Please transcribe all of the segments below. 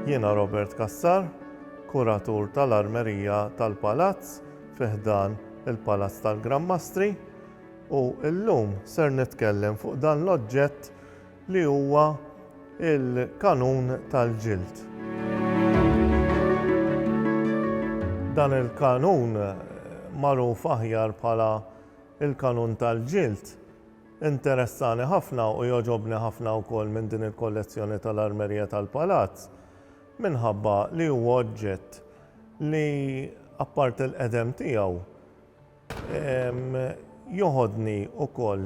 Jiena Robert Kassar, kuratur tal-armerija tal-Palazz fiħdan il-Palazz tal-Gran Mastri u llum ser nitkellem fuq dan l-oġġett li huwa l-kanun tal-ġild. Dan il-kanun, magħruf aħjar bħala l-kanun tal-ġild, interessani ħafna u jogħġobni ħafna wkoll minn din il-kollezzjoni tal-Armerija tal-Palazz minħabba li huwa oġġett li, apparti l-qedem tiegħu, Jogħodni ukoll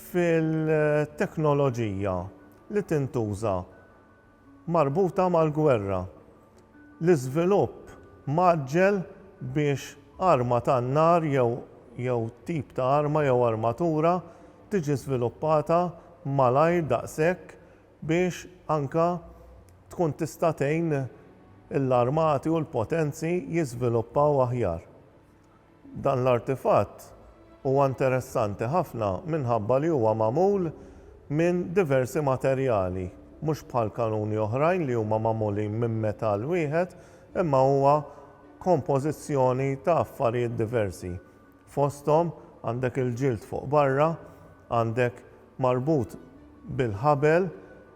fil-teknoloġija li tintuża marbuta mal-gwerra. L-iżvilupp mgħaġġel biex arma tan-nar jew jew tip ta' arma jew armatura tiġi żviluppata malajr daqshekk biex anke tkun tista' tgħin l-armati u l-potenzi jiżviluppaw aħjar. Dan l-artifatt huwa interessanti ħafna minħabba li huwa magħmul minn diversi materjali, mhux bħal kanuni oħrajn li huma magħmulin minn metall wieħed imma huwa kompożizzjoni ta' affarijiet diversi. Fosthom għandek il-ġild fuq barra, għandek marbut bil-ħabel,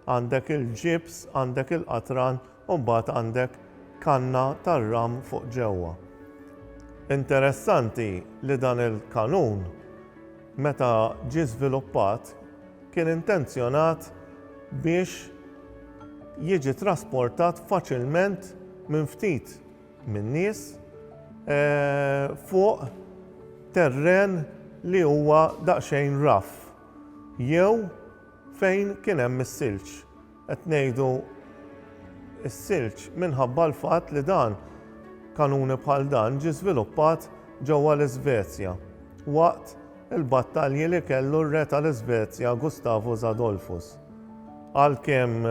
għandek il-ġibs, għandek il-qatran u mbagħad għandek kanna tar-ram fuq ġewwa. Interessanti li dan il-kanun meta ġie żviluppat kien intenzjonat biex jiġi trasportat faċilment minn ftit min-nies fuq terren li huwa daqsxejn raff jew fejn kien hemm is-silġ. Qed ngħidu s-silġ minħabba l-fatt li dan, kanuni bħal dan ġie żviluppat ġewwa l-Iżvezja waqt il-battalji li kellu r-re tal-Iżvezja Gustavus Adolphus. Għalkemm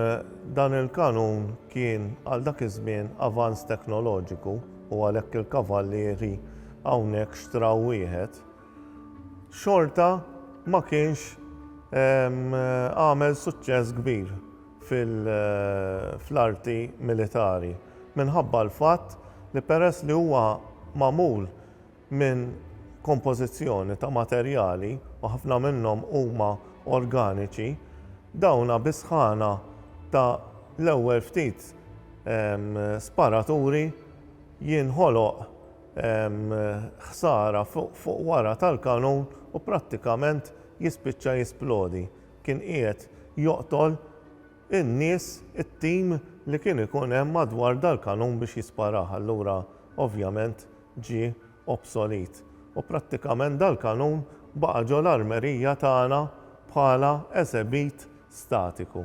dan il-kanun kien għal dak iż-żmien avanz teknoloġiku u għalhekk il-kavallieri hawnhekk xtraw wieħed, xorta ma kienx għamel suċċess kbir fl-arti militari minħabba l-fatt li peress li huwa magħmul minn kompożizzjoni ta' materjali, u ħafna minnhom huma organiċi, dawna bis-sħana ta' l-ewwel ftit sparaturi jinħoloq ħsara fuq wara tal-kanun u prattikament jispiċċa jisplodi. Kien qiegħed joqtol in-nies, it-tim li kien ikun hemm madwar dal-kanun biex jisparah. Allura ovvjament ġie obsolit u prattikament dal-kanun baqa' ġo l-armerija tagħna bħala eżebit statiku.